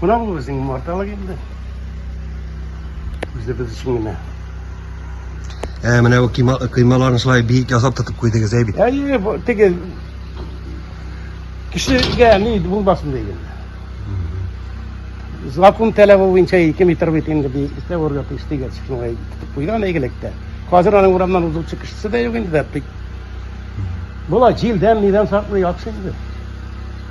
Менә ул безнең умарталык инде. Үзебез өчен генә. Ә менә бу кыйма, кыймаларны шулай биек ясап тотып куйдыгыз әй бит. Әйе, бу теге кешегә ни булмасын дигән. Закон таләбе буенча 2 метр бит инде би истә урга тиеш дигән шуңа тотып куйган әйгелектә. Хәзер аның урамнан узучы кешесе дә юк инде дә бик. Була җилдән нидән саклый яхшы инде.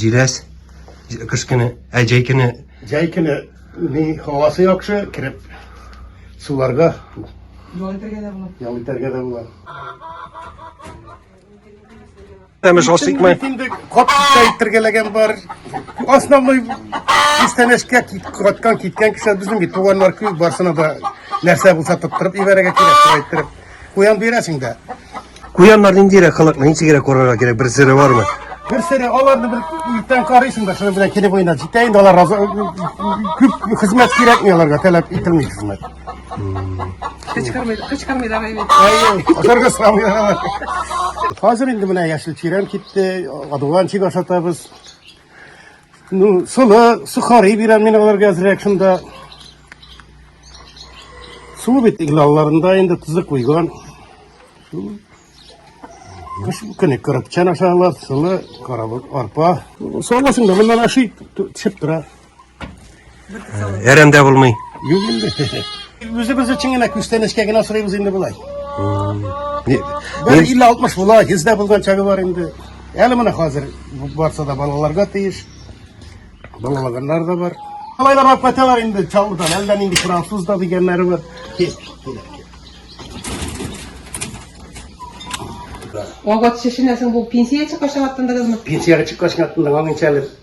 Җиләс, кыш көне, ә җәй көне? Җәй көне ни һавасы яхшы, кереп суларга ял итәргә дә була. Ял итәргә дә була. Тәмеш асыкмай. Инде кат китергәләгән бар. Основной кистанәшкә каткан киткән кеше безнең бит туганнар күп барсына да нәрсә булса тоттырып ибәрәгә кирәк, шулай иттереп. Куян бирәсең дә. Куяннар ниндирәк халык, ничегрәк карарга кирәк, бер сире бармы? Бер сире аларны бер иртән карыйсың да, шуның белән килеп уйнап җитә инде алар разы күп хезмәт кирәкми аларга, таләп ителми хезмәт. Кычкырмый, кычкырмыйлар әйе. Әйе, аларга сорамыйлар. Хәзер инде менә яшел чирәм китте, адуган чик ашатабыз. Ну, солы, сухари бирәм мин аларга әзрәк шунда. Су бит иглалларында инде тузы куйган. Кыш көне кырыпчан ашалар, солы, карабык, арпа. Солысын да моннан ашый, төшеп тора. Әрәмдә булмый. Юк инде. Үзебез өчен генә күстәнәчкә генә сорыйбыз инде болай. Бер 50-60 була, 100 дә булган чагы бар инде. Әле менә хәзер барса да балаларга тиеш. Балалаганнар да бар. Алай да барып кайталар инде Чаллыдан. Әлдә нинди француз да дигәннәре бар. Кил, кил. Вагат шешенәсең бу пенсия чыккач аттындыгызмы? Пенсияга чыккач аттындыгыз, аңынча әле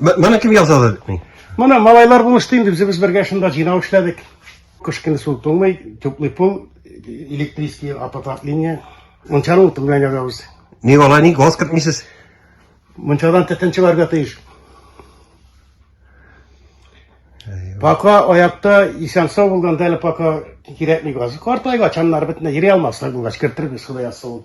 Моны кем ясады? Моны малайлар булышты инде, без бергә шунда җыйнау эшләдек. Кыш көне су туңмый, теплый пол, электрический аппарат линия. Мунчаны утын белән ягабыз. Ник алай ник газ кертмисез? Мунчадан төтен чыгарга тиеш. Пока аякта исән сау булганда әле пока кирәкми газ. Картайгач аннары бөтенләй йөри алмаслар булгач кертербез, Ходай язса ул.